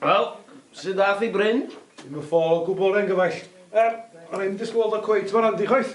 Wel, sut ath i Bryn? Dim yn ffôl o gwbl, rhaid gyfaill. Yym, o'n i ddim yn disgwyl weld o cweit mor handi chwaith.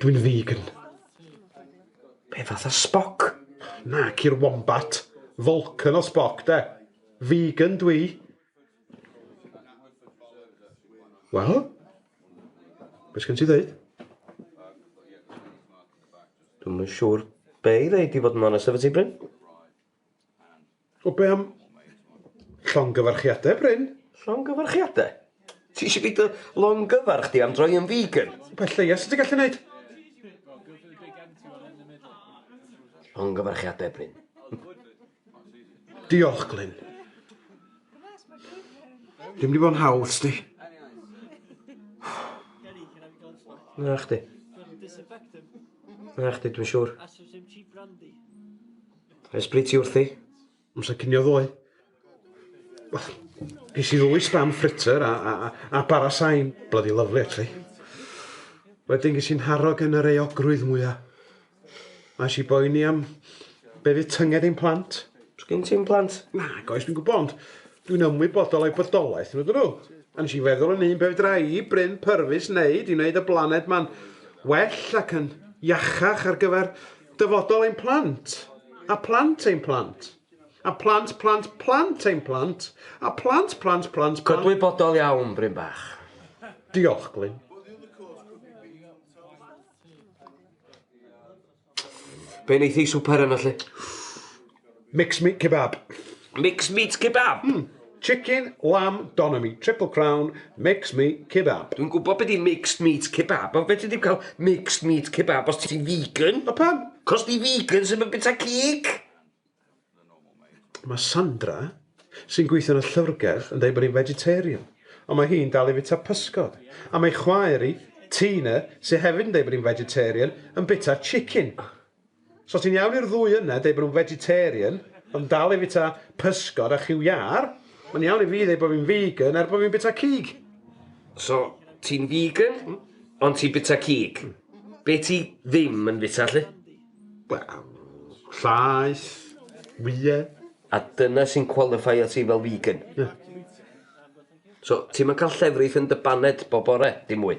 Dwi'n vegan. Be fatha Spock? Nac i'r wombat. Vulcan o Spock 'de. Vegan dw i. Wel? Be' sgen ti ddeud? Dwi'm yn siŵr be' i ddeud i fod yn onest efo ti Bryn. O be am llongyfarchiadau, Bryn? Llongyfarchiadau? Ti eisiau fi dy longyfarch di am droi yn vegan? Y peth lleia sydd ti gallu neud. Llongyfarchiadau, Bryn. Diolch, Glyn. Dim wedi bod yn hawdd, sti. Na chdi. Na chdi, dwi'n siŵr. Ers bryd ti wrthi? Amser cinio ddoe. Wel, ges i ddwy spam fritter a, a, a, a bara sain. Bloody lovely, actually. Wedyn ges i'n haro gen yr eogrwydd mwya. Mae si boeni am be fydd tynged ein plant. Sgyn ti'n plant? Na, goes, dwi'n gwybod, ond dwi'n ymwybodol o'i bodolaeth, nhw dyn nhw. A nes i feddwl yn un pe fydra i, Bryn Pyrfus, wneud i wneud y blaned ma'n well ac yn iachach ar gyfer Dyfodol ein plant, a plant ein plant, a plant plant plant ein plant, a plant plant plant plant... Cydwybodol iawn, Bryn Bach. Diolch, Glyn. Be wneith ei swper yna, lle? Mixed meat kebab. Mixed meat kebab? Mm. Chicken, lamb, doner meat, triple crown, mixed meat kebab. Dwi'n gwybod beth i mixed meat kebab, ond fe ti ddim cael mixed meat kebab os ti'n vegan? O pam? Cos di vegan sy'n mynd bita cig. Mae Sandra, sy'n gweithio yn y llyfrgell, yn dweud bod hi'n vegetarian, ond mae hi'n dal i fita pysgod. A mae chwaer i, Tina, sy'n hefyd yn dweud bod hi'n vegetarian, yn bita chicken. So ti'n iawn i'r ddwy yna deud bod nhw'n vegetarian ond dal i fita pysgod a chiw iâr, mae'n iawn i fi ddeud bod fi'n vegan er bod fi'n bita cig. So, ti'n vegan, ond ti'n bita cig. Be ti ddim yn fita, lly? Wel, llaeth, wyau. A dyna sy'n qualifio ti fel vegan? Ie. So, ti'm yn cael llefrith yn dy baned bob bore, dim mwy?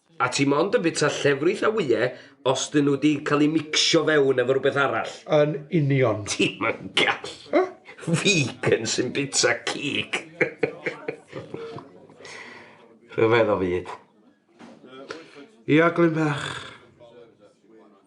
A ti mond yn bita llefrith a wyau os dyn nhw 'di cael eu micsio fewn efo rhywbeth arall. Yn union. Ti'm yn gallu! Vegan sy'n bita cig! Rhyfedd o fyd. Ia, Glyn bach.